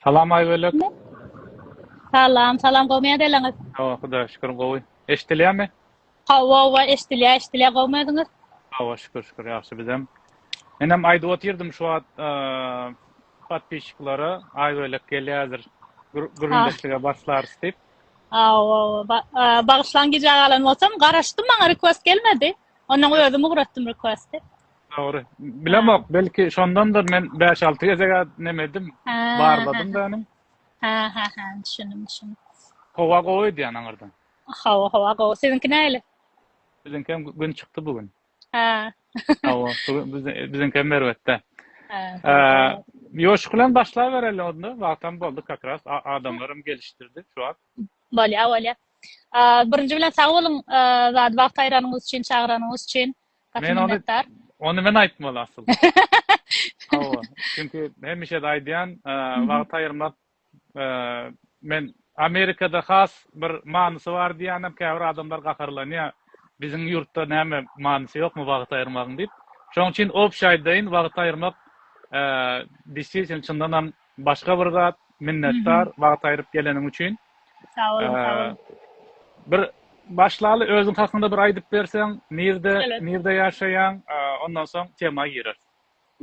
Salam Aýbölek. Salam, salam gowmy ýadeleňiz. Hawa Hudaýa şükür gowy. Eşdilýämi? Hawa hawa eşdilýär eşdilýär gowmy özüňiz. Hawa şükür şükür ýagşy bizem. Menem aýdyp otyrdym şu wagt podpisçiklara Aýbölek gelýärdir gürrüňdeşlige başlarys diýip. Hawa hawa bagyşlaň gijä galan bolsam garaşdym maňa request gelmedi. Ondan özüm ugratdym requesti. Dogry. Bilemok, belki şondandyr men 5-6 gezek nemedim, barladym da ony. Ha ha ha, düşündim, düşündim. Howa gowy edýän aňyrdan. Howa, howa gowy. Siziňki näle? Biziňki hem gün çykdy bu gün. Ha. Howa, biziňki hem erbetde. Ha. Ýoşuk bilen başlap bereli onda, wagtam boldy как раз, adamlarym gelişdirdi şu wagt. Bolýa, bolýa. Birinji bilen sag boluň, zat wagt aýranyňyz üçin, çagyranyňyz üçin. Gaty minnetdar. Ony men aýtmaly asyl. Hawa, çünki hemişe-de aýdýan, wagt aýyrmak men Amerikada has bir manysy bar diýýänem, käbir adamlar gaharlanýar. Biziň ýurtda näme manysy ýokmy wagt aýyrmagyň diýip. Şonuň üçin obşy aýdaýyn, wagt aýyrmak, çyndanam Başga bir zat, minnetdar wagt aýryp geleniň üçin. Sag boluň, sag boluň. Bir başlaly özüň hakynda bir aýdyp berseň, nirde, nirde ýaşaýaň, ondan soň tema girer.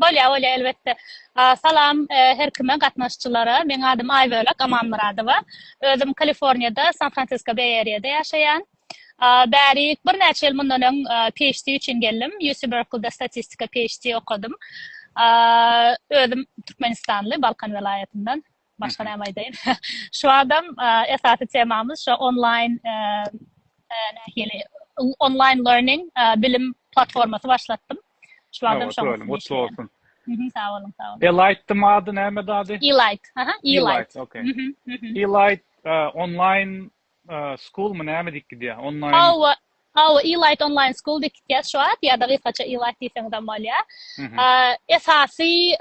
Bolýar, bolýar elbetde. Salam her kime, gatnaşyjylara. Meň adym Aýbölek Amanmyradowa. Özüm Kaliforniýada, San Fransisko Beý Eriýada ýaşaýan. Bärik, birnäçe ýyl mundan öň PHD üçin geldim. UC Berkeleyde statistika PHD okadym. Özüm türkmenistanly, Balkan welaýatyndan. Başga näme aýdaýyn? Şu wadam esasy temamyz şu onlaýn nähili onlaýn learning bilim platformasy başlatdym. Şu wadam şoňa. Gutly bolsun. Sag boluň, sag boluň. Elite mady näme dady? Elite. Aha, Elite. Elite, okay. Elite onlaýn Schoolmy näme diýip gidýär? Online. Hawa, hawa, Elite Online School diýip gitýär şu wagt ýa-da gysgaça Elite diýseňizem bolýar. Esasy,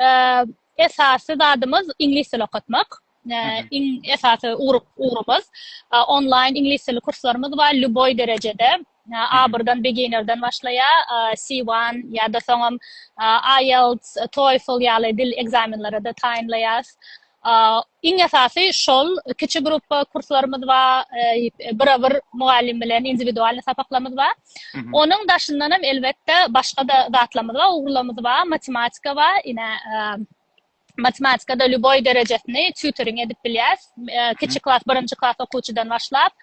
esasy zadymyz iňlis dili okatmak. Iň esasy ugrumyz. Online iňlis dili kurslarymyz bar, lýuboý derejede. Abrdan, beginnerden başlaýar, C1 ýa-da soňam IELTS, TOEFL ýaly dil ekzamenleri-de taýynlaýarys. Iň esasy şol, kiçi gruppa kurslarymyz bar, bira-bir mugallym bilen indiwidualnyý sapaklarymyz bar. Onuň daşyndan hem elbetde başga-da zatlarymyz bar, ugurlarymyz bar, matematika bar, ine, matematikada lýuboý derejesini tutoring edip bilýäs. E, kiçi klas, birinji klas okuwçydan başlap,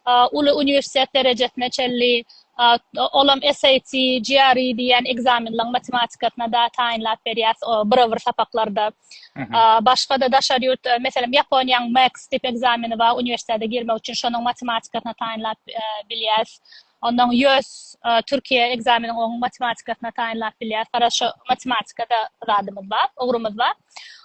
e, uly uniwersitet derejesine çenli e, olam SAT, GRE diýen ekzamenleriň matematikasyna da taýynlap berýäs o bir-bir sapaklarda. Başga-da daşary ýurt, e, meselem, Ýaponiýanyň MAX diýip ekzameni bar, uniwersitete girmek üçin şonuň matematikasyna taýynlap e, bilýäs. Ondan ýöz Türkiýe ekzameniň oň matematikasyna taýynlap bilýär. Garaz şo matematikada zadymyz bar, ugrumyz bar.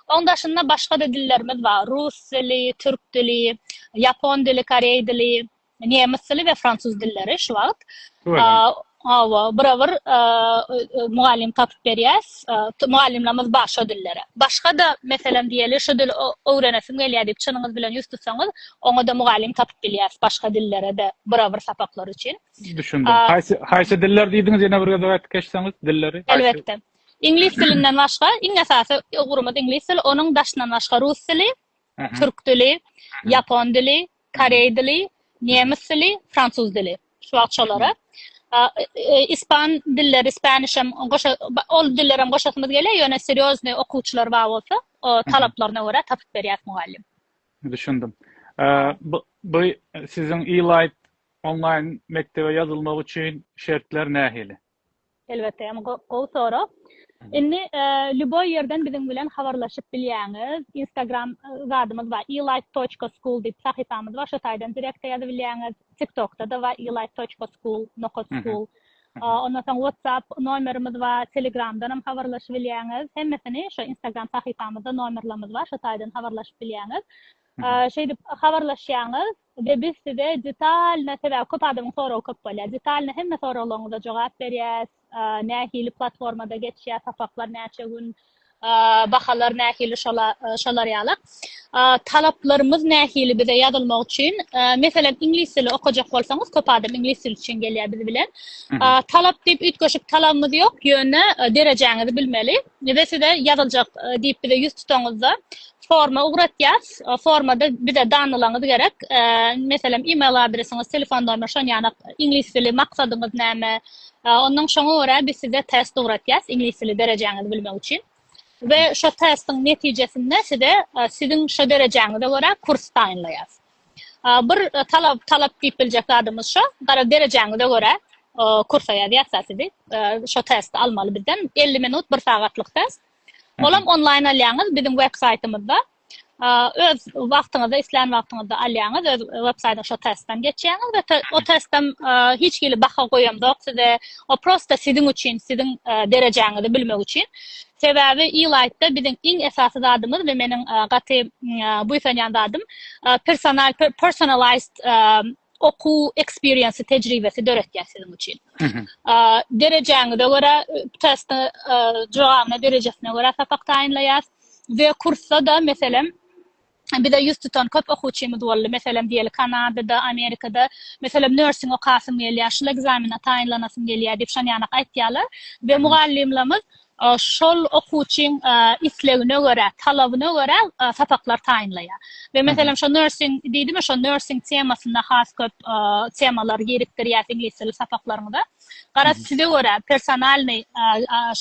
Oň daşynda başga-da dillerimiz bar. Rus dili, türk dili, ýapon dili, koreý dili, nemes dili we fransuz dilleri şu wagt. Hawa, bir bir mugallym tapyp berýäs. mugallymlarymyz bar şo dillere. Başga-da, meselem, diýeli, şu dili öwrenesim gelýär diýip, çynyňyz bilen ýüz tutsaňyz, oňa-da mugallym tapyp bilýäris, başga dillere-de, bira-bir sapaklar üçin. Düşündim. Haýsy, haýsy diller diýdiňiz, ýene bir gezek aýdyp geçseňiz, dilleri? Elbetde. Iňlis dilinden başga, iň esasy ugurymyz iňlis dili, onuň daşyndan başga rus dili, türk dili, ýapon dili, Koreý dili, nemes dili, fransuz dili. Şu wagt şolara. Ispan dilleri, spaniş hem goşa, ol diller hem goşasymyz gelýär, ýöne serýozny okuwçylar bar bolsa, talaplaryna görä tapyp berýäs mugallym. Düşündim. Bu, bu siziň e-light onlaýn mekdebe ýazylmak üçin şertler nähili? Elbetde hem gowy sorag. Indi lýuboý ýerden biziň bilen habarlaşyp bilýäňiz. Instagram zadymyz bar, e-life toçka school diýip sahypamyz bar. Şo taýdan direkte ýazyp bilýäňiz. TikTokda da bar, e-life toçka school, nokat school. Ondan soň WhatsApp nomerimiz bar, Telegramdan hem habarlaşyp bilýäňiz. Hemmesini şo Instagram sahypamyzda nomerlerimiz bar, şo taýdan habarlaşyp bilýäňiz. Şeýdip habarlaşýaňyz. We biz size detalno sebäbi köp adamyň soragy köp bolýar. Detalno hemme soraglaryňyza jogap berýäs. Nähili platformada geçýär, sapaklar näçe gün, bahalar nähili şolar ýaly. Talaplarymyz nähili bize ýazylmak üçin? Meselem iňlis dili okajak bolsaňyz köp adam iňlis dili üçin gelýär biz bilen. Talap diýip üýtgeşik talabymyz ýok, ýöne derejäňizi bilmeli. Bize size ýazyljak diýip bize ýüz tutaňyzda forma ugratýas. Formada bize danalaňyz gerek. Meselem email adresiňiz, telefon nomer şon ýana iňlis dili maksadyňyz näme? Ondan şoňa görä biz size test ugratýas iňlis dili derejäňizi bilmek üçin. We şo testiň netijesinde size siziň şo derejäňize görä kurs taýynlaýas. Bir talap talap diýip biljek zadymyz şo, gara derejäňize görä kursa ýazýarsyňyz sizi. Şo testi almaly bizden. 50 minut, bir sagatlyk test. Olam onlaýn alýaňyz biziň websaýtymyzda. Öz wagtyňyzda, islän wagtyňyzda alýaňyz, öz websaýtda şo testden geçýäňiz we o testden hiç hili baha goýamzok size. O prosta siziň üçin, siziň derejäňizi bilmek üçin. Sebäbi ilaýtda biziň iň esasy zadymyz we meniň gaty buýsanýan zadym personal personalized okuw eksperiensi tejribesi döretýär siziň üçin. Derejäňize görä testi jogabyna derejesine görä sapak taýynlaýas we kursda da meselem bize ýüz tutan köp okuwçymyz boldy. Meselem, diýeli, Kanadada, Amerikada, meselem, nörsing okasym gelýär, şul ekzamene taýynlanasym gelýär diýip, şon ýanak aýtýarlar we mugallymlarymyz şol okuwçyň islegine görä, talabyna görä sapaklar taýynlaýar. We, meselem, şo nörsing diýdimi, şo nörsing temasyna has köp temalar girikdirýäs iňlis dili sapaklaryňyza. Garaz, size görä, personalnyý,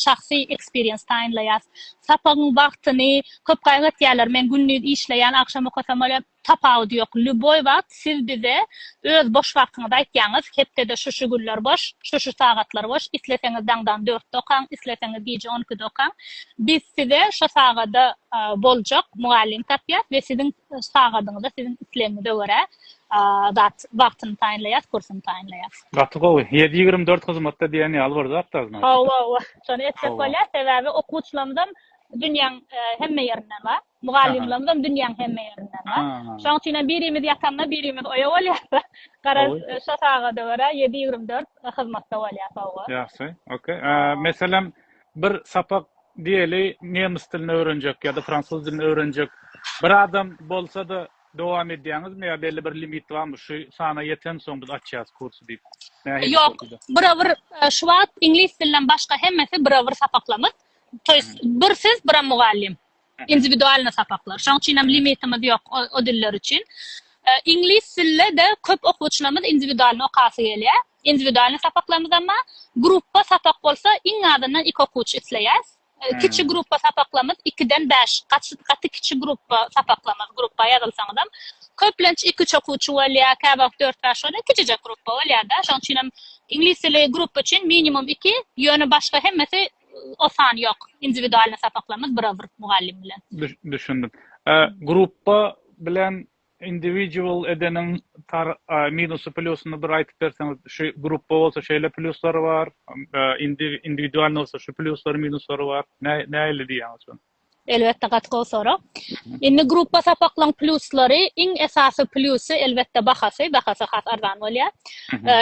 şahsy eksperiens taýynlaýas. Sapagyň wagtyny köp gaýgy etýärler, men gündiz işleýän, agşam okasam bolýar, tapawudy ýok. Lýuboý wagt siz bize öz boş wagtyňyzy aýtýaňyz, hepdede şu-şu günler boş, şu-şu sagatlar boş, isleseňiz daňdan dörtde okaň, isleseňiz gije on ikide okaň. Biz size şo sagada boljak mugallym tapýas we siziň sagadyňyza, siziň islegiňize görä. zat wagtyny taýynlaýas kursyny taýynlaýas. Gaty gowy. Ýedi ýigrimi dört hyzmatda diýen ýaly bir zatda znaçyk. Hawa hawa şony etsek bolýar sebäbi okuwçylarymyzam dünýäň hemme ýerinden bar. Mugallymlarymyzam dünýäň hemme ýerinden bar. Şoň üçin hem birimiz ýatanda birimiz oýa bolýarys. Garaz şo sagada görä ýedi ýigrimi dört hyzmatda bolýar hawa. Ýagşy ok. Meselem bir sapak diýeli nemes dilini öwrenjek ýa-da fransuz dilini öwrenjek bir adam bolsada Dowam edýäňizmi ýa belli bir limit barmy şu sana ýetensoň biz açýas kursy diýip nähili Ýok şekilde. bira bir şu wagt iňlis dilinden başga hemmesi bira bir sapaklamyz to ýest bir siz bira mugallym indiwidualny sapaklar şoň üçinem limitimiz ýok o diller üçin iňlis dilide köp okuwçylarymyz indiwidualny okasy gelýär indiwidualny sapaklarymyz emma grupba sapak bolsa iň azyndan iki okuwçy isleýäs Kiçi gruppa sapaklamyz ikiden bäş, gaty kiçi gruppa sapaklamyz, gruppa ýazylsaňyzam, köplenç iki-üç okuwçy bolýar, käwagt dört-bäş bolýar, kiçijek gruppa bolýar-da. Şonuň üçinem iňlis dili gruppa üçin minimum iki, ýöne başga hemmesi o san ýok. Indiwidualnyý sapaklamyz bir-a-bir mugallym bilen. Düşündim. Gruppa bilen Individual edeniň tar minusy plýusyny bir aýtyp berseňiz şu grupba bolsa şeýle plýuslary bar indiwidualny bolsa şu plýuslary minuslary bar nähili diýýäňiz şony. Elbetde gaty gowy sorag. Indi grupba sapaklaň plýuslary iň esasy plýusy elbetde bahasy, bahasy has arzan bolýa.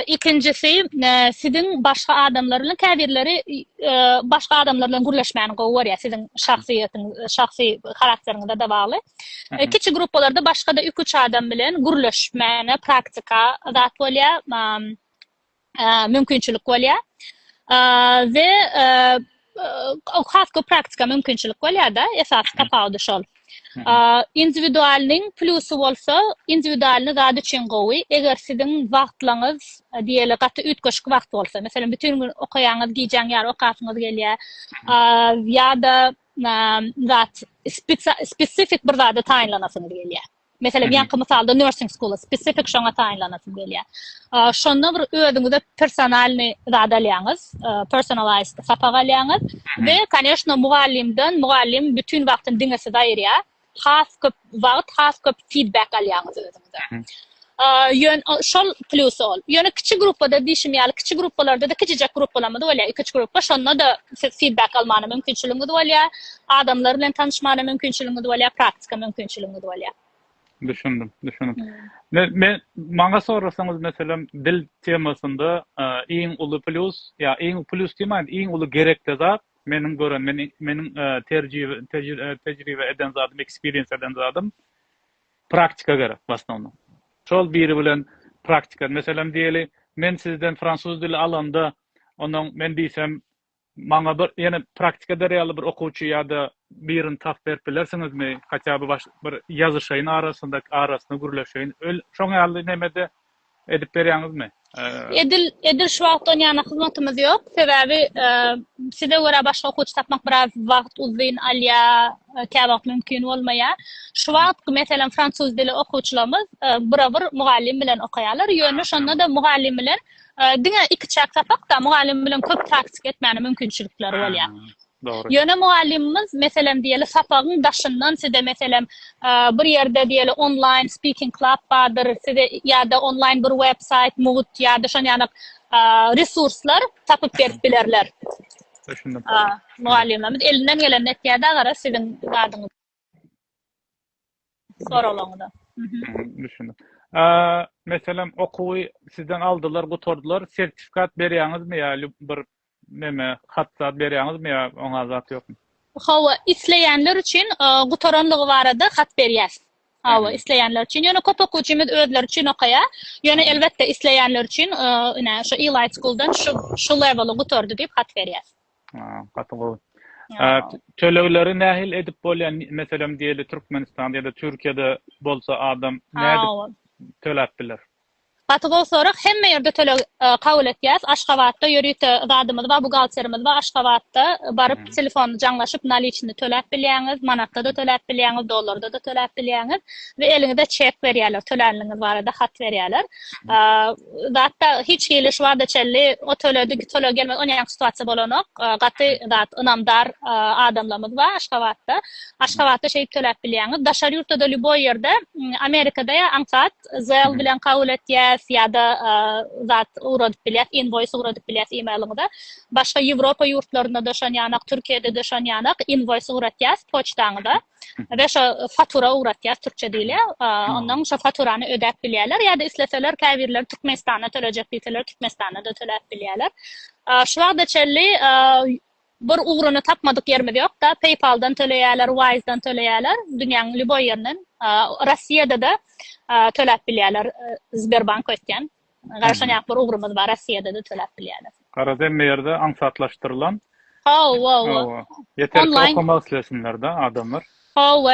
Ikinjisi siziň başga adamlar bilen käbirleri başga adamlar bilen gürleşmäni gowy görýä siziň şahsyýetiňiz şahsy harakteriňize de bagly. Kiçi gruppalarda başga-da iki-üç adam bilen gürleşmäne praktika zat bolýar, mümkinçilik bolýar. We has köp praktika mümkinçilik bolýar-da, esasy tapawudy şol. Indiwidualnyň plusy bolsa, indiwidualny zat üçin gowy, eger siziň wagtlaryňyz diýeli gaty üýtgeşik wagt bolsa, meselem, bütin gün okaýaňyz, gijäň ýary okasyňyz gelýär, ýa-da zat spesifik bir zada taýynlanasyňyz gelýär. Meselem, ýaňky mysalda nursing school spesifik şoňa taýynlanasym gelýär. Şonda bir özüňize personalny zat alýaňyz, personalized sapak alýaňyz we, koneşno, mugallymdan, mugallym bütin wagtyny diňe size aýyrýar. has köp wagt has köp feedback alýaňyz özüňize. Ýön şol plusy ol. Ýöne kiçi gruppada diýşim ýaly, kiçi gruppalarda-da kiçijek gruppalarymyz bolýar, iki-üç gruppa, şonda-da siz feedback almana mümkinçiligiňiz bolýar, adamlar bilen tanyşmana mümkinçiligiňiz bolýar, praktika mümkinçiligiňiz bolýar. Düşündim, düşündim. Men, men maňa sorasaňyz, meselem, dil temasynda iň uly plus, ýa iň plus diýmän, iň uly gerekli zat, Meniň gören meni meniň terjibe tejribe eden zadym ekspiriens eden zadym praktika gerek wasnownom şol biri bilen praktika meselem diýeli men sizden fransuz dili alanda onuň men diýsem maňa bir ýene praktika ber ýaly bir okuwçy ýada birini tapyp berip bilersiňizmi hatýa by bir ýazyşaýyn arasynda arasyna gürleşeýin öl şoň ýaly nemede edip berýäňizmi? Edil, edil şu wagtdan ýana hyzmatymyz ýok. Sebäbi size görä başga okuwçy tapmak biraz wagt uzyn alýar, käwagt mümkin bolmaýar. Şu wagt meselem fransuz dili okuwçylarymyz bura bir mugallym bilen okaýarlar. Ýöne şonda-da mugallym bilen diňe ikiçäk sapak-da, mugallym bilen köp praktika etmäne mümkinçilikleri bolýar. Dogry. Ýöne mugallymymyz, meselem, diýeli, sapagyň daşyndan size, meselem, bir ýerde, diýeli, onlaýn speaking club bardyr, size ýa-da onlaýn bir websaýt, mugt ýa-da şon ýanak resurslar tapyp berip bilerler. Düşündim. Mugallymymyz elinden geleni etýär-de, agara, siziň zadyňyz. soraglaryňyza. Düşündim. Meselem, okuwy sizden aldylar, gutardylar, sertifikat berýäňizmi ýa bir näme, hat zat berýäňizmi ýa oňa zat ýokmy? Hawa, isleýänler üçin gutaranlygy barada hat berýäs. Hawa, isleýänler üçin. Ýöne köp okuwçymyz özleri üçin okaýar. Ýöne elbetde isleýänler üçin ine şu Elite School-dan şu şu leweli gutardy diýip hat berýäs. Gaty gowy. Tölegleri nähili edip bolýar? Meselem diýeli Türkmenistanda ýa-da Türkiýede bolsa adam nädip töläp biler? Gaty gowy sorag. Hemme ýerde töleg kabul etýäs. Aşgabatda ýörite zadymyz bar, buhgalterimiz bar. Aşgabatda baryp telefon jaňlaşyp naliçni töläp bilýäňiz, manatda-da töläp bilýäňiz, dollarda-da töläp bilýäňiz we eliňize çek berýärler, tölänligiňiz barada hat berýärler. zatda hiç hili şu wagta çenli o töledi bu töle gelmedi on ýaňky situasiýa bolanok gaty zat ynamdar adamlarymyz bar aşgabatda aşgabatda şeýdip töläp bilýäňiz daşary ýurtda da lýuboý ýerde amerikada ýa aňsat zel bilen kabul etýäs ýa-da zat ugradyp bilýäs inwoýs ugradyp bilýäs e-mailiňize başga ýewropa ýurtlarynda da şon ýanak türkiýede de şon ýanak inwoýs ugratýas poçtaňyza we şo fatura ugratýar türkçe diýilýär. Ondan şo faturany ödäp bilýärler ýa-da isleseler käbirleri Türkmenistana tölejek diýseler Türkmenistana da töläp bilýärler. Şu wagta çenli bir ugruny tapmadyk ýerimiz ýok-da, PayPal-dan töleýärler, Wise-dan töleýärler, dünýäniň lýuboý ýerinden. Russiýada-da töläp bilýärler Sberbank öýtýän. garaşanýak bir ugrumyz bar Rossiýada-da töläp bilýäler. Garaz hemme ýerde aňsatlaşdyrylan. Hawa, hawa. Ýeter ki okamak islesinler-de adamlar. Hawa,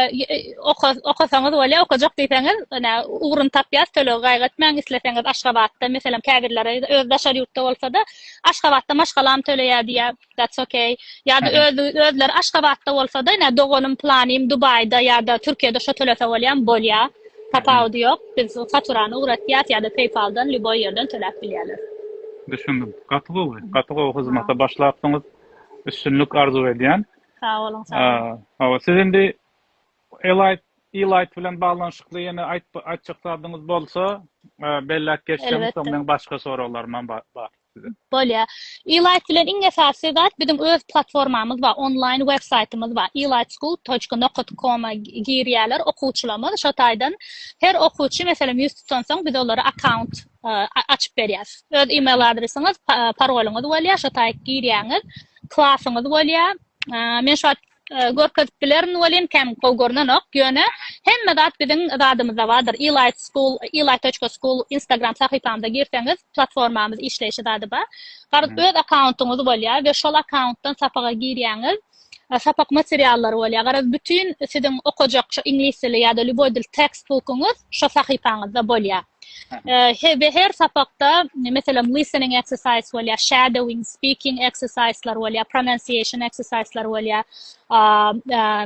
okasaňyz bolýar, okajak diýseňiz, ine ugruny tapýas, tölegi gaýgy etmäň, isleseňiz Aşgabatda, meselem käbirleri öz daşary ýurtda bolsa-da, Aşgabatda maşgalam töleýär diýýär. That's ok. Ýa-da özi özleri Aşgabatda bolsa-da, ine doganym, planym Dubaýda ýa-da Türkiýede şo tölese bolýam, bolýa. Tapawudy ýok. Biz faturany ugratýas ýa-da PayPal-dan lýuboý ýerden töläp bilýärler. Düşündim. Gaty gowy. Gaty gowy hyzmata başlapsyňyz. Üstünlik arzuw edýän. Sag boluň, sag boluň. Hawa, siz indi Elite Elite bilen baglanyşykly ýene aýtp aýtjak zadyňyz bolsa, belläp geçseňiz, soň meň başga soraglarymam bar. Bolýar. Elaýt bilen iň esasy zat biziň öz platformamyz bar, onlaýn web saýtymyz bar. Elaýtschool toçka nokat koma girýärler okuwçylarymyz. Şo taýdan her okuwçy meselem ýüz tutansoň biz olara akkaunt açyp berýäs. Öz email adresiňiz, paroluňyz bolýar, şo taýy girýäňiz, klasyňyz bolýar. Men şu wagt Görkezip bilerin welin, kän gowy görnenok. Ýöne, hemme zat biziň zadymyzda bardyr. Elaýt School, elaýt toçka school Instagram sahypamyza girseňiz, platformamyz işleýşi zady bar. Garaz, öz akkauntyňyz bolýar we şol akkauntydan sapaga girýäňiz, sapak materiallary bolýar. Garaz, bütin siziň okajak şu iňlis dili ýa-da lýuboý dil tekstbukuňyz şo sahypaňyzda bolýar. He, we her sapakda, meselem, listening exercise bolýar, shadowing, speaking exercise-lar bolýar, pronunciation exercise-lar bolýar.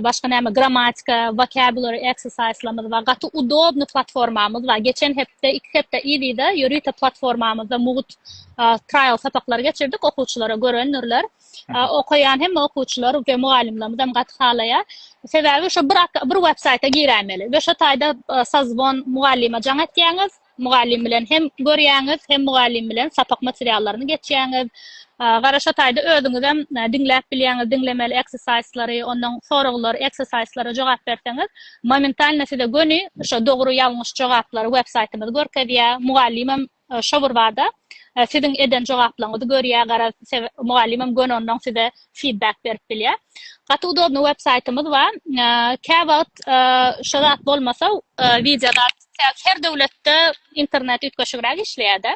Başga näme, grammatika, vocabulary exercise-lamyz bar. Gaty udobny platformamyz bar. Geçen hepde, iki hepde yz-yza ýörite platformamyzda mugt trial sapaklary geçirdik, okuwçylara görendirler. Okaýan hemme okuwçylar we mugallymlarymyz hem gaty halaýar. Sebäbi şu bir bir web saýta giräýmeli we şu taýda sazbon mugallyma jaň etýäňiz, mugallym bilen hem görýäňiz, hem mugallym bilen sapak materiallaryny geçýäňiz. Gara şu taýda özüňiz hem diňläp bilýäňiz, diňlemeli eksersaýslary, ondan soraglar, eksersaýslara jogap berseňiz, momentalno size göni şu dogry ýalňyş jogaplary web saýtymyz görkezýär. Mugallym hem Şoburbada siziň eden jogaplaryňyzy görýär garaz mugallymym göni ondan size feedback berip bilýär. Gaty udobny web saýtymyz bar. Kä wagt şo zat bolmasa wideo zat her döwletde internet üýtgeşigräk işleýärde.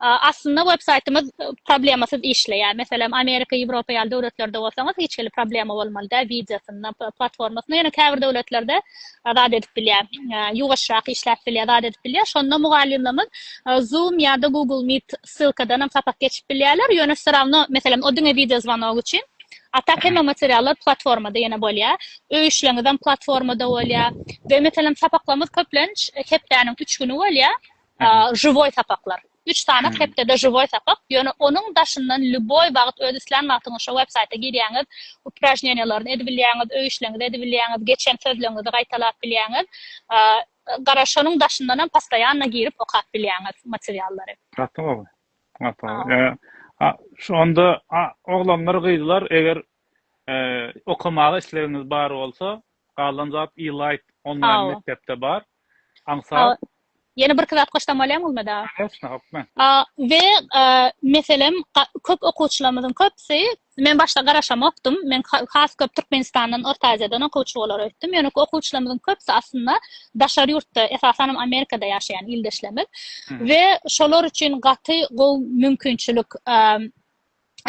Aslynda web saýtymyz problemasyz işleýär. Meselem Amerika Ýewropa ýaly döwletlerde bolsaňyz hiç hili problema bolmaly däl wideosynda platformasynda ýöne käbir döwletlerde zat edip bilýär, ýuwaşrak işläp bilýär, zat edip bilýär. Şonda mugallymlarymyz Zoom ýa-da Google Meet ssylkadan hem sapak geçip bilýärler. Ýöne всё равно, meselem, o diňe wideo zwanok üçin. A tak hemme materiallar platformada ýene bolýar. Öý işleriňizem platformada bolýar. Beýle meselem sapaklarymyz köplenç hepdäniň üç güni bolýar. Žiwoý sapaklar. Üç sanak hepdede žiwoý sapak. Ýöne onuň daşyndan lýuboý wagt öz islän wagtyňyz şo websaýta girýäňiz, upražneniýalaryny edip bilýäňiz, öý işleriňizi edip bilýäňiz, geçen sözleriňizi gaýtalap bilýäňiz. Gara şonuň daşyndan hem postoýanno girip okap bilýäňiz materiallary. Gaty gowy. Gaty gowy. A şu onda oglanlar gyzlar eger okamaga islegiňiz bar bolsa galan zat e-light onlaýn mekdepde bar. Aňsat. Ýene birki zat goşdamolýam bolmada. Koneçna hokman. A we meselem köp okuwçylarymyzyň köpsi men başda garaşamokdym. Men has köp Türkmenistandan, Orta Aziýadan okuwçy bolar öýtdüm. Ýöne okuwçylarymyzyň köpsi aslynda daşary ýurtda, esasanam Amerikada ýaşaýan ildeşlerimiz we şolar üçin gaty gowy mümkinçilik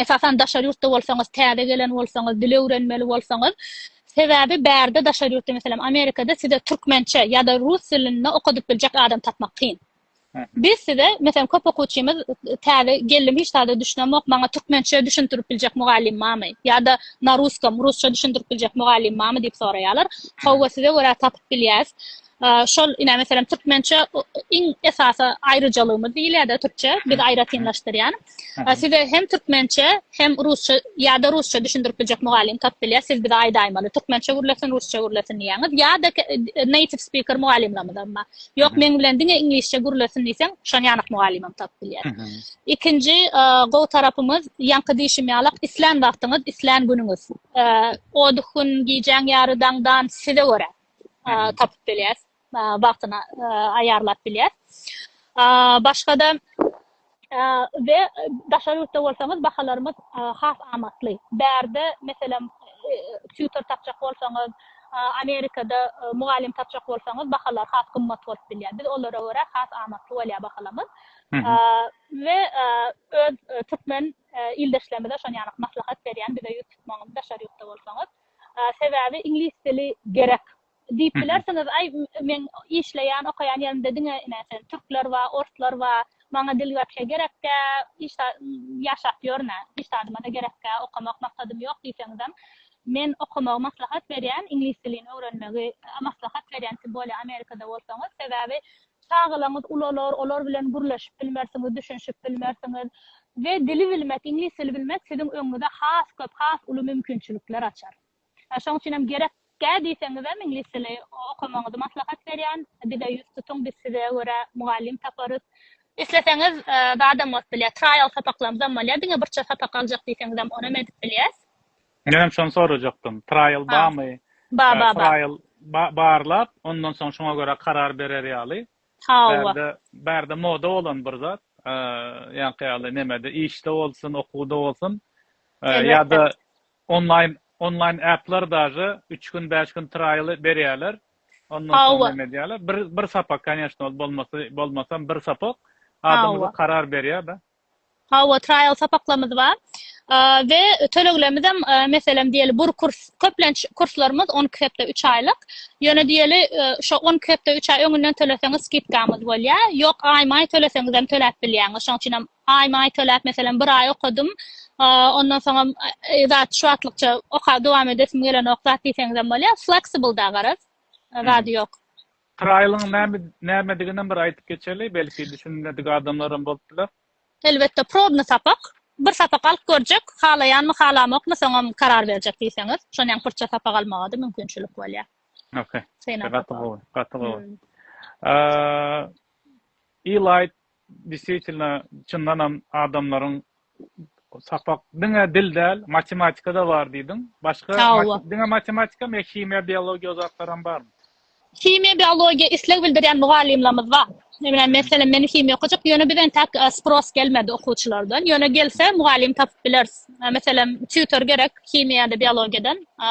Esasan daşary ýurtda bolsaňyz, täze gelen bolsaňyz, dil öwrenmeli bolsaňyz, sebäbi bärde daşary ýurtda meselem Amerikada size türkmençe ýa-da rus dilinde okadyp biljek adam tapmak kyn. Biz size meselem köp okuwçymyz täze geldim hiç zada düşünemok, maňa türkmençe düşündirip biljek mugallym barmy? Ýa-da na ruskom, rusça düşündirip biljek mugallym barmy diýip soraýarlar. Hawa size görä tapyp bilýäs. Şol ine meselem türkmençe iň esasy aýryjalygymyz diýilýär-de türkçe, biz aýratynlaşdyrýan. A size hem türkmençe, hem rusça ýa-da rusça düşündirip biljek mugallym tapyp bilýär, siz bize aýdaýmaly. Türkmençe gürlesin, rusça gürlesin diýýäňiz. Ýa-da native speaker mugallymlarymyzam bar. Ýok, meň bilen diňe iňlisçe gürlesin diýseň, şon ýanak mugallymam tapyp bilýär. Ikinji gowy tarapymyz, ýaňky diýşim ýaly, islän wagtyňyz, islän günüňiz. O gün, gijäň ýary daňdan size görä tapyp bilýäs. wagtyna aýarlap bilýär. Başga-da we daşary ýurtda bolsaňyz bahalarymyz has amatly. Bärde meselem tutor tapjak bolsaňyz, Amerikada mugallym tapjak bolsaňyz bahalar has gymmat bolup bilýär. Biz olara görä has amatly bolýar bahalamyz. We öz türkmen ildeşlerimize şony ýanyk maslahat berýän, bize ýüz tutmagyň daşary ýurtda bolsaňyz. Sebäbi iňlis dili gerek. Diýip bilersiňiz, aý, meň işleýän, okaýan ýerimde diňe ine, sen, türkler bar, orslar bar, maňa dil wapşe gerek däl, hiç zat, ýaşap ýörmän, hiç zadyma-da gerek däl, okamak maksadym ýok diýseňizem, men okamagy maslahat berýän, iňlis dilini öwrenmegi maslahat berýän, siz bolýa Amerikada bolsaňyz, sebäbi çagalaryňyz ulalar, olar bilen gürleşip bilmersiňiz, düşünişip bilmersiňiz we dili bilmek, iňlis dili bilmek siziň öňüňize has köp, has uly mümkinçilikler açar. Şoň üçin hem gerek gä diýseňizem iňlis dili okamagyňyzy maslahat berýän. Bize ýüz tutuň biz size görä mugallym taparys. Isleseňiz zadam bolup bilýär. Traýal sapaklarymyzam bolýar. Diňe birçe sapak aljak diýseňizem onam edip bilýäs. Men hem şony sorajakdym. Traýal bamy? Bar bar. Traýal barlap ondan soň şoňa görä karar berer ýaly. Bärde bärde moda bolan bir zat. Ýaňky ýaly nemede işde bolsun okuwda bolsun ýa-da Onlaýn onlaýn äpler daže üç gün bäş gün traýly berýäler ondan soň Hawa. neme edýäler bir bir sapak kanyeshno ol bolmasy bolmasam bir sapak adam Hawa. uly karar berýär da. Hawa traýal sapaklarymyz bar A we töleglerimizem e, meselem diýeli bir kurs köplenç kurslarymyz on iki hepde üç aýlyk ýöne diýeli e, şo on iki hepde üç aý öňünden töleseňiz skidkamyz bolýar ýok aýma aý töleseňizem töläp bilýäňiz şoň üçinem Aýma-aý töläp, meselem, bir aý okadym. Ondan soňam zat şu wagtlykça okap dowam edesim gelenok zat diýseňizem bolýar. Flexible-da garaz. Zady ýok. Trial-yň näme, nämediginem bir aýdyp geçeli, belki düşünmedik adamlaram bolup biler. Elbetde, probny sapak. Bir sapak alyp görjek, halaýanmy, halamokmy, soňam karar berjek diýseňiz. Şony ýaňy pyrça sapak almaga-da mümkinçilik bolýar. Okey. Gaty gowy, gaty gowy. E-light Desýetilna çyndanam adamlaryň sapak diňe dil däl matematikada bar diýdiň başga diňe matematika me himiýa biologiýa zatlaram barmy himiýa biologiýa isleg bildirýän mugallymlarymyz bar Emine meselem meni himiýa okajak ýöne biz entäk e, spros gelmedi okuwçylardan ýöne gelse mugallym tapyp bileris e, meselem tutor gerek himiýada biologiýadan e,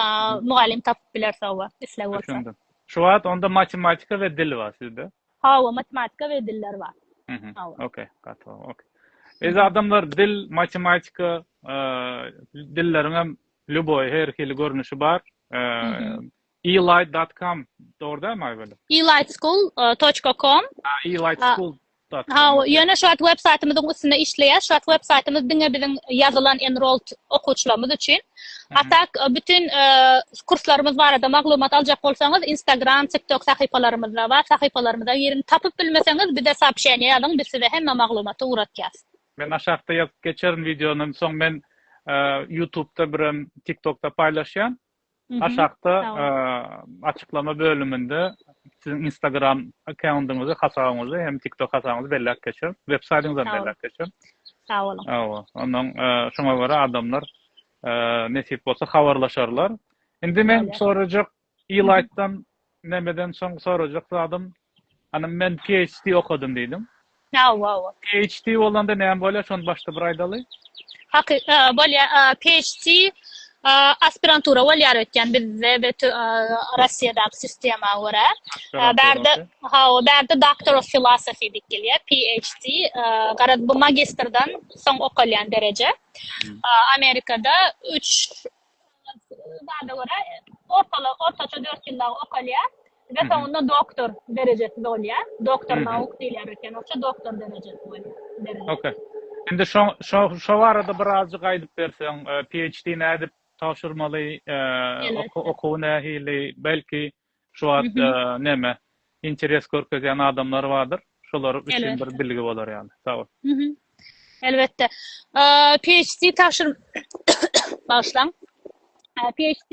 mugallym tapyp bileris owa isleg bolsa şu wagt onda matematika we dil bar sizde Hawa matematika we diller bar. Hawa. Okey, gaty gowy. Okey. Biz adamlar dil, matematika, dilleriň hem lýuboý her hili görnüşi bar. Elight.com dogry da maý bolu. Elightschool.com. Elightschool. Hawa, ýöne şu wagt web saýtymyzyň üstünde işleýär. Şu wagt web saýtymyz diňe biziň ýazylan enrolled okuwçylarymyz üçin. A tak, bütin kurslarymyz barada maglumat aljak bolsaňyz, Instagram, TikTok sahypalarymyzda bar, sahypalarymyza giriň. Tapyp bilmeseňiz, bize soobşeniýe ýazyň, biz size hemme maglumaty ugratýas. Men aşakda ýazyp geçerin wideonyň soň men ýutubda birem tiktokda paýlaşýan. Aşakda açyklama bölüminde siziň instagram accountyňyzy, hasabyňyzy hem tiktok hasabyňyzy belläp geçerin. Websaýtyňyzam belläp geçerin. Sag boluň. Hawa, ondan şoňa görä adamlar nesip bolsa habarlaşarlar. Indi men sorajak Ilaýtdan nämeden soň sorajak zadym, hanym men PHD okadym diýdim. Hawa, hawa. PHD bolanda näme bolýar, şony başda bir aýdaly. Haky, bolýar. PHD Aspirantura bolýar öýtýän bizde we Russiýadaky sistema görä. Bärde hawa, bärde Doctor of Philosophy diýip gelýär, PhD. Garaz bu magistrdan soň okalýan dereje. Amerikada 3 zada görä ortaça 4 ýyl dagy okalýar. Ve soňunda doktor derejesi bolýar. Doktor nauk diýilýär eken. Oça doktor derejesi bolýar. Okey. Indi şo şo şo barada birazjyk aýdyp berseň, PHD nädip tabşyrmaly, okuwy nähili, belki şu wagt näme interes görkezýän adamlar bardyr, şolar üçin bir bilgi bolar ýaly. Sag bol. Elbetde. PHD tabşyr bagyşlaň. PHD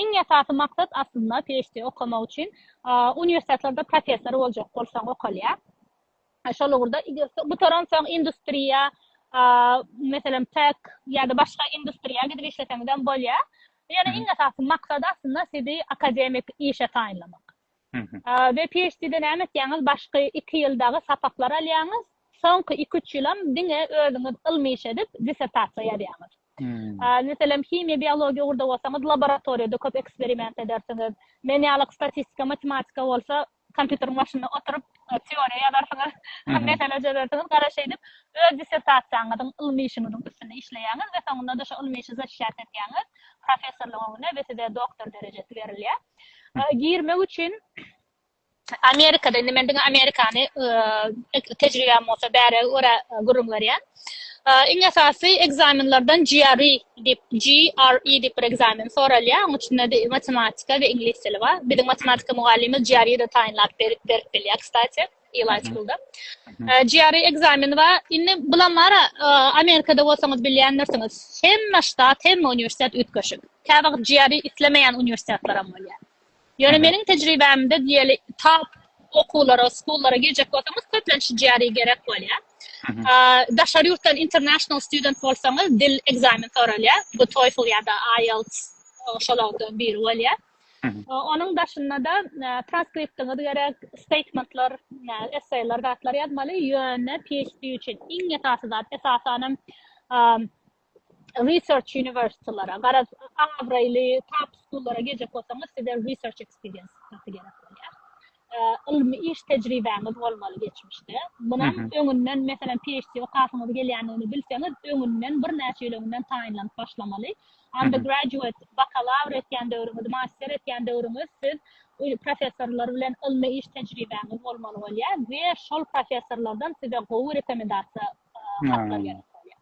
Iň esasy maksat aslynda PHD okamak üçin uniwersitetlarda professor boljak bolsaň okalýar. Şol ugurda gutaransoň industriýa, meselem TEK ýa-da başga industriýa gidip işleseňizem bolýar. Ýöne iň esasy maksat aslynda sizi akademik işe taýynlamak. We PHD-de näme etýäňiz? Başky iki ýyl dagy sapaklar alýaňyz, soňky iki-üç ýylam diňe özüňiz ylmy iş edip, dissertasiýa ýazýaňyz. Meselem, himiýa-biologiýa ugurda bolsaňyz, laboratoriýada köp eksperiment edersiňiz. Men ýalyk statistika, matematika bolsa, kompýuteriň başynda oturyp, teoriýa ýazarsyňyz, mesele çözersiňiz. Gara şeýdip, öz dissertasiýaňyzyň, ylmy işiňiziň üstünde işleýäňiz we soňunda-da şo ylmy işi zaçiçat etýäňiz professorlyk öňüne we size doktor derejesi berilýär. girmek üçin Amerikada, indi men diňe Amerikany tejribäm bolsa bäri görä gürrüň berýän. Iň esasy ekzamenlerden GRE diýip, GRE diýip bir ekzamen soralýar. Onuň içinde matematika we iňlis dili bar. Biziň matematika mugallymymyz GRE-de taýynlap berip bilýär, kstati. Elaýskylda. GRE ekzameni bar. Indi bulam bar, Amerikada bolsaňyz bilýändirsiňiz. Hemme ştat, hemme uniwersitet üýtgeşik. Käwagt GRE islemeýän uniwersitetler hem bolýar. Ýöne meniň tejribämde diýeli top okuwlara, schoollara girjek bolsaňyz köplenç GRE gerek bolýar. Daşary ýurtdan international student bolsaňyz dil ekzamen soralýar. Bu TOEFL ýa-da IELTS şolardan biri bolýar. Onuň daşynda-da transkriptiňiz gerek, steýtmentler, esseýler, zatlar ýazmaly, ýöne PHD üçin iň esasy zat, esasanam research uniwersitylere, garaz, abraýly top schoollara girjek bolsaňyz, size research experience gerek bolýar. ylmy iş tejribäňiz bolmaly geçmişde. Munam öňünden meselem PhD okasyňyz gelýändigini bilseňiz, öňünden birnäçe ýyl öňünden taýynlanyp başlamaly. Undergraduate, bakalawr etýän döwrüňiz, master etýän döwrüňiz siz professorlar bilen ylmy iş tejribäňiz bolmaly bolýar we şol professorlardan size gowy rekomendasiýa hatlar gelip bolýar.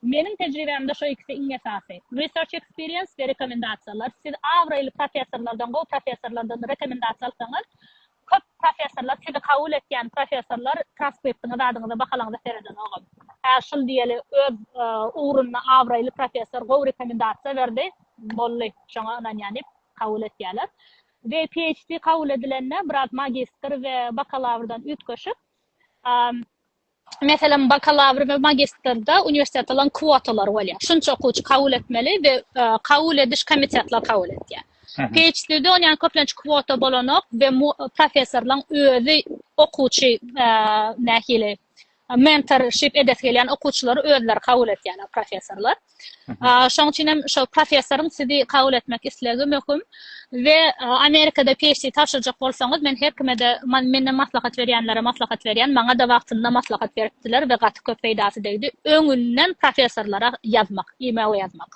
Meniň tejribämde şo ikisi iň esasy. Research experience we rekomendasiýalar. Siz abraýly professorlardan, gowy professorlardan rekomendasiýa alsaňyz, köp professorlar, sizi kabul etýän professorlar transkriptiňizi, adyňyza, bahalaňyza seredenogam. Hä, şul diýeli, öz ugrunda abraýly professor gowy rekomendasiýa berdi, boldy, şoňa ynanýan diýip kabul etýärler. We PHD kabul edilende biraz magistr we bakalawrdan üýtgeşik, Meselem, bakalawr we magistrde uniwersitetalaryň kwotalary bolýar. Şunça okuwçy kabul etmeli we kabul ediş komitetler kabul edýär. PhD-de onýan köplenç kwota bolanok we professorlaryň özi okuwçy nähili mentorship edesi gelýän okuwçylary özleri kabul edýärler professorlar. Şoň üçin hem şo professoryň sizi kabul etmek islegi möhüm we Amerikada PhD tabşyrjak bolsaňyz, men her kime-de, menden maslahat berýänlere maslahat berýän, maňa-da wagtynda maslahat beripdiler we gaty köp peýdasy degdi, öňünden professorlara ýazmak, e-mail ýazmak.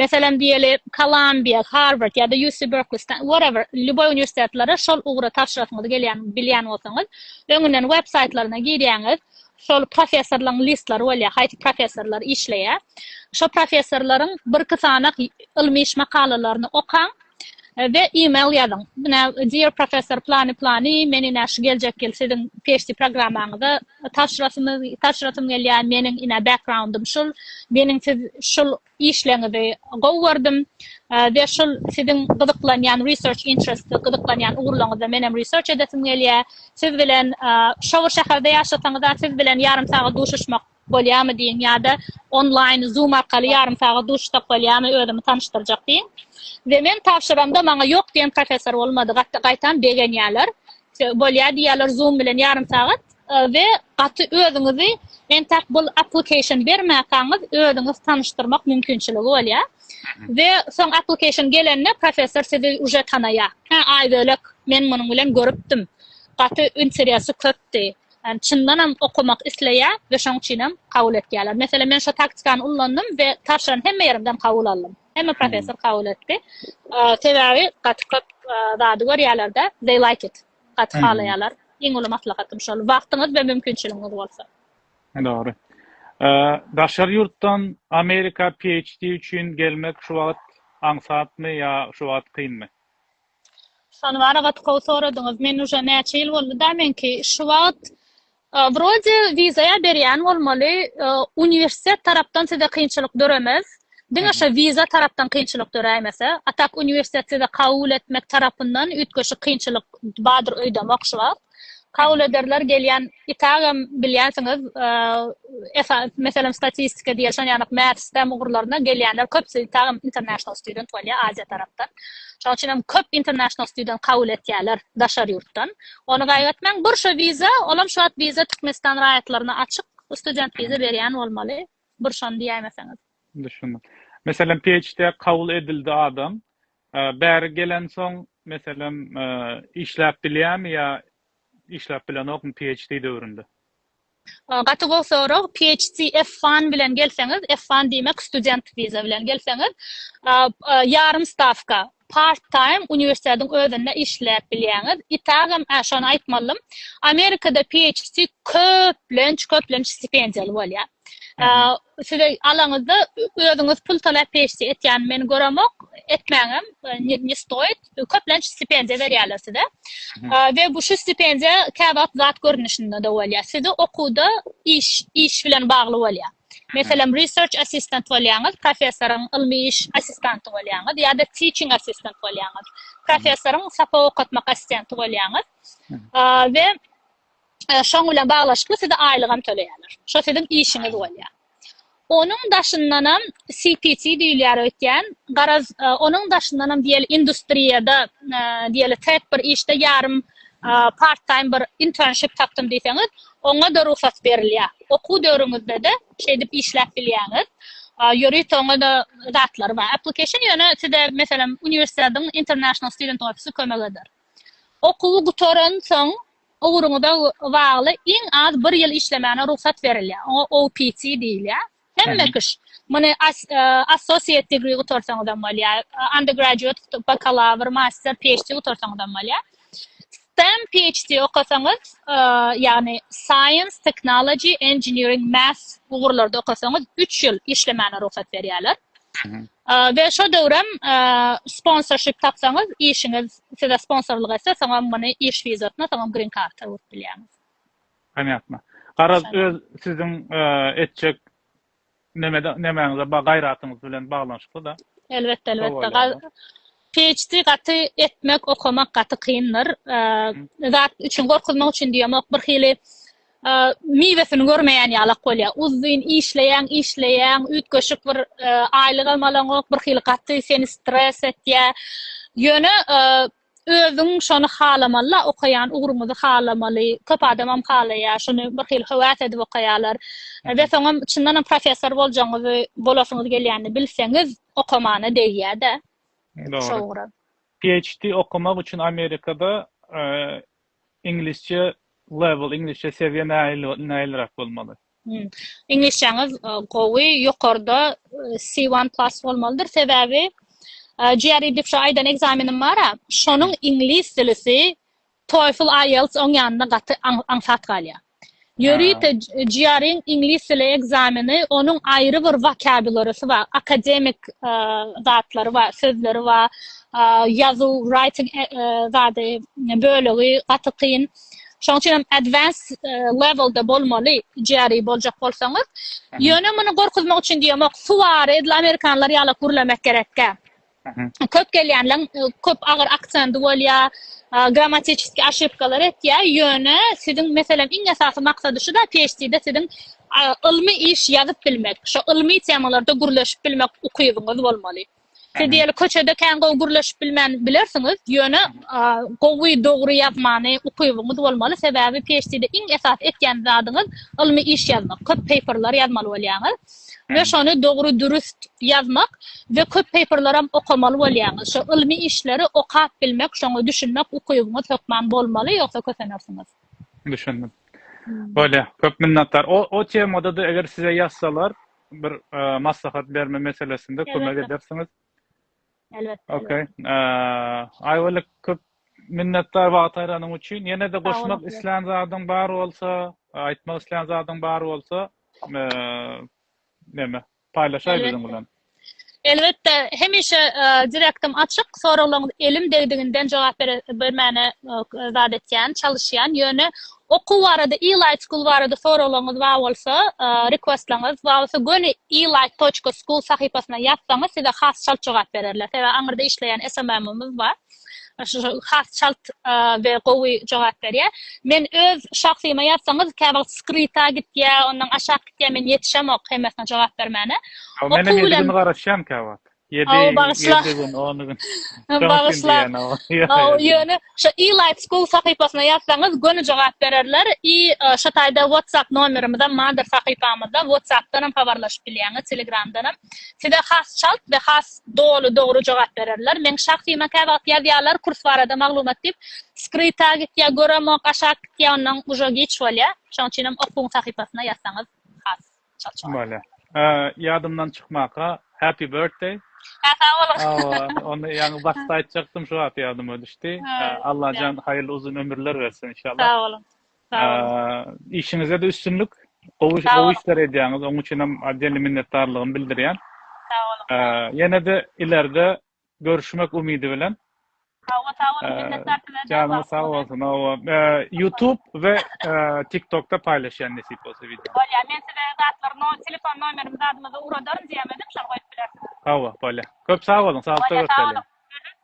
Meselem diýeli, Kolumbiýa, Harward ýa-da UC Berkeley, Stanford, whatever, lýuboý uniwersitetlere şol ugra tabşyrasyňyz gelýänini bilýän bolsaňyz, öňünden web saýtlaryna girýäňiz, Şol professorlaryň listlary bolýar, haýsy professorlar işleýär. Şo professorlaryň birki sanak ylmy iş makalalaryny okaň we e-mail ýazyň. Ine, Dear Professor plany-plany, men ine şu geljek ýyl siziň PHD programmaňyza tabşyrasym gelýär, meniň ine background-ym şul, meniň siz şul Işleňizi gowy gördüm we şul siziň gyzyklanýan research interest gyzyklanýan ugurlaňyzda menem research edesim gelýä. Siz bilen şour şäherde ýaşasaňyza siz bilen ýarym sagat duşuşmak bolýamy diýiň ýa-da online zoom arkaly ýarym sagat duşuşsak bolýamy özümi tanyşdyrjak diýiň. We men tabşyramda maňa ýok diýen professor bolmady gaýtam begenýäler bolýa diýýäler zoom bilen ýarym sagat. we gaty özüňizi entäk bul application bermäkaňyz özüňiz tanyşdyrmak mümkinçiligi bolýar we soň application gelende professor sizi uje tanaýar hä aý bölek men munuň bilen görüpdim gaty interesy köpdi ýani çyndanam okamak isleýär we şoň üçinem kabul etýärler meselem men şo taktikany ullandym we tabşyran hemme ýerimden kabul aldym hemme professor kabul etdi sebäbi gaty köp zady görýärlerde they like it. gaty halaýarlar. Iň uly maslahatym şol. Wagtyňyz we mümkinçiligiňiz bolsa. Dogry. Daşary ýurtdan Amerika PHD üçin gelmek şu wagt aňsatmy ýa şu wagt kynmy? Şony bary gaty gowy soradyňyz. Men uje näçe ýyl boldy-da meňki. Şu wagt Wrode wiza berýän bolmaly uniwersitet tarapdan size kynçylyk döremez diňe şo wiza tarapdan kynçylyk döräýmese a tak uniwersitet size kabul etmek tarapyndan üýtgeşik kynçylyk bardyr öýdemok şu wagt kabul ederler gelýän i tagam bilýänsiňiz meselem statistika diýer şon ýanak math stem ugurlaryna gelýänler köpsi tagam international student bolýa aziýa tarapdan şoň üçinem köp international student kabul etýäler daşary ýurtdan Ony gaýgatmaň. Burşa wiza, olam şu wagt wiza Türkmenistan raýatlaryna açyk. Student wiza berýän bolmaly. Burşany diýäýmeseňiz. Düşündim. Meselem PHD-ä kabul edildi adam. Bäri gelensoň, meselem, işläp bilýärmi ýa işläp bilenokmy PHD döwründe? Gaty gowy sorag. PHC F-one bilen gelseňiz, F-one diýmek student wiza bilen gelseňiz, ýarym stawka, part time uniwersitetiň özünde işläp bilýäňiz. Itagam şony aýtmalydym. Amerikada PHC köplenç, köplenç stipendiýaly bolýar. Size alaňyzda özüňiz pul talap PHC etýän meni göremok, etmäňem, ne stoýt. köplenç stipendiýa berýärler size. We bu şu stipendiýa käwagt zat görnüşinde de bolýar. Sizi okuwda iş iş bilen bagly bolýar. Meselem, research assistant bolýaňyz, professoryň ylmy iş assistanty bolýaňyz ýa-da teaching assistant bolýaňyz. Professoryň sapak okatmak assistenti bolýaňyz. We şoň bilen baglaşykly size aýlyk hem töleýärler. Şo siziň işiňiz bolýar. Onuň daşyndanam CPC diýilýär öýtýän. Garaz, onuň daşyndanam diýeli industriýada diýeli tek bir işde ýarym part-time bir internship tapdym diýseňiz, oňa-da rugsat berilýär. Okuw döwrüňizde-de şeýdip işläp bilýäňiz. Ýörite oňa-da zatlary bar. Application ýöne size meselem uniwersitetiň International Student Office-i kömek eder. Okuwy gutaransoň, Ugruňyza bagly iň az bir ýyl işlemäne rugsat berilýär. Oňa OPT diýilýär. Hemme kişi, muny associate degree gutarsaňyz hem bolýar, undergraduate, bakalawr, master, PHD gutarsaňyz hem bolýar. STEM, PHD okasaňyz, ýagny science, technology, engineering, math ugurlarda okasaňyz üç ýyl işlemäne rugsat berýärler. We şo döwrem sponsorship tapsaňyz, işiňiz size sponsorlyk etse, soňam muny iş wizasyna, soňam green karta öwrüp bilýäňiz. Ponýatno. Garaz, öz siziň etjek nemäňize, gaýratyňyz bilen baglanyşykly-da. Elbetde, elbetde. PHD gaty etmek okamak gaty kyndyr zat üçin gorkuzmak üçin diýemok bir hili miwesini görmeýän ýalak bolýa uzzyn işleýäň işleýäň üýtgeşik bir aýlygam alaňok bir hili gaty seni stres etýä ýöne özüň şony halamalla okaýan ugruňyzy halamaly köp adamam halaýa şony bir hili höwäs edip okaýalar we soňam çyndanam professor boljagyňyzy bolasyňyz gelýänini bilseňiz okamana degýädä. Dogry. PHD okamak üçin Amerikada iňlisçe level, iňlisçe sewiýe nälerak bolmaly? Iňlisçäňiz gowy, ýokarda C1 plus bolmalydyr. Sebäbi GRE diýip şu aýdan ekzamenim bar-a, şonuň iňlis dilisi Toefl IELTS oň ýanynda gaty aňsat galýar. Ýörite GRE-iň iňlis dili ekzameni onuň aýry bir wokabularysi bar, akademik zatlary bar, sözleri bar, ýazuw, writing zady, bölegi gaty kyn. Şoň üçin hem advanced level-de bolmaly GRE boljak bolsaňyz. Ýöne muny gorkuzmak üçin diýemok, suwary edil amerikanlar ýalak gürlemek gerekkä. köp gelýänler köp agyr aksenty bolýa, grammatическi aşypkalar etýä, ýöne siziň meselem iň esasy maksady şu da PhD-de siziň ylmy iş ýazyp bilmek, şo ylmy temalarda gürleşip bilmek ukybyňyz bolmaly. Siz diýeli köçede kän gowy gürleşip bilmän bilersiňiz, ýöne gowy dogry ýazmany ukybyňyz bolmaly, sebäbi PhD-de iň esasy etýän zadyňyz ylmy iş ýazmak, köp paperlar ýazmaly bolýaňyz. we şony dogry dürüst ýazmak we köp paperlaram okamaly bolýaňyz şo ylmy işleri okap bilmek şoňa düşünmek ukybyňyz hökman bolmaly ýogsa kösenersiňiz. Düşündim. Bolýa. Köp minnetdar. O o temadada eger size ýazsalar bir maslahat berme meselesinde kömek edersiňiz. Elbetde. Okay. Aýwalik köp minnetdar wagt aýranyň üçin. Ýene-de goşmak islän zadyň bar bolsa, aýtmak islän zadyň bar bolsa, näme, paýlaşaý biziň bilen. Elbetde, hemişe direktim açyk, soraglaryňyz elim degdiginden jogap bermäne zat etýän, çalyşýan. Ýöne Okuw barada e-light school barada soraglaryňyz bar bolsa, requestlaryňyz bar bolsa göni e-light toçka school sahypasyna ýazsaňyz size has çalt jogap bererler. Sebäbi aňyrda işleýän SMM-ymyz bar. Has çalt we gowy jogap berýär. Men öz şahsyma ýazsaňyz käwagt skryta gitýär, ondan aşak gitýär, men ýetişemok hemmesine jogap bermäne. Okuw bilen. Meniň edil garaşýan käwagt. Ýedi, Aw, bagyşla. ýedi gün, on gün. Soň Bagyşla. indi ýa no. Ýa, Aw, ýa. ýöne şu E-Life School sahypasyna ýazsaňyz göni jogap bererler i e, şu taýda WhatsApp nomerimizem bardyr sahypamyzda, WhatsApp-dan hem habarlaşyp bilýäňiz, Telegram-dan hem. Size has çalt we has doly, dogry jogap bererler. Meň şahsyma käwagt ýazýarlar kurs barada maglumat diýip, skryta gitýä, göremok, aşak gitýä, ondan uža giç bolýa. Şoň üçinem okuň sahypasyna ýazsaňyz has. Bolýa. Ýadymdan çykmaka Happy birthday. Hä sag boluň. Hawa, ony ýaňy başda aýtjakdym şu wagt ýadyma düşdi. Allajan haýyrly uzyn ömürler bersin inşallah. Sag boluň. Sag boluň. Işiňizde-de üstünlik. Gowy gowy işler edýäňiz. Oň üçinem otdelny minnetdarlygymy bildirýän. Sag boluň. Ýene-de ileride görüşmek umidi bilen. Hawa sag boluň minnetdar size de Janyňyz sag bolsun hawa ýutub we tiktokda paýlaşýan nesip bolsa wideo. Bolýar men size zatlar no telefon nomerimi zadymy da uradaryn diýemedim şony goýup bilersiňiz. Hawa bolýar köp sag boluň saglykda görşeliň.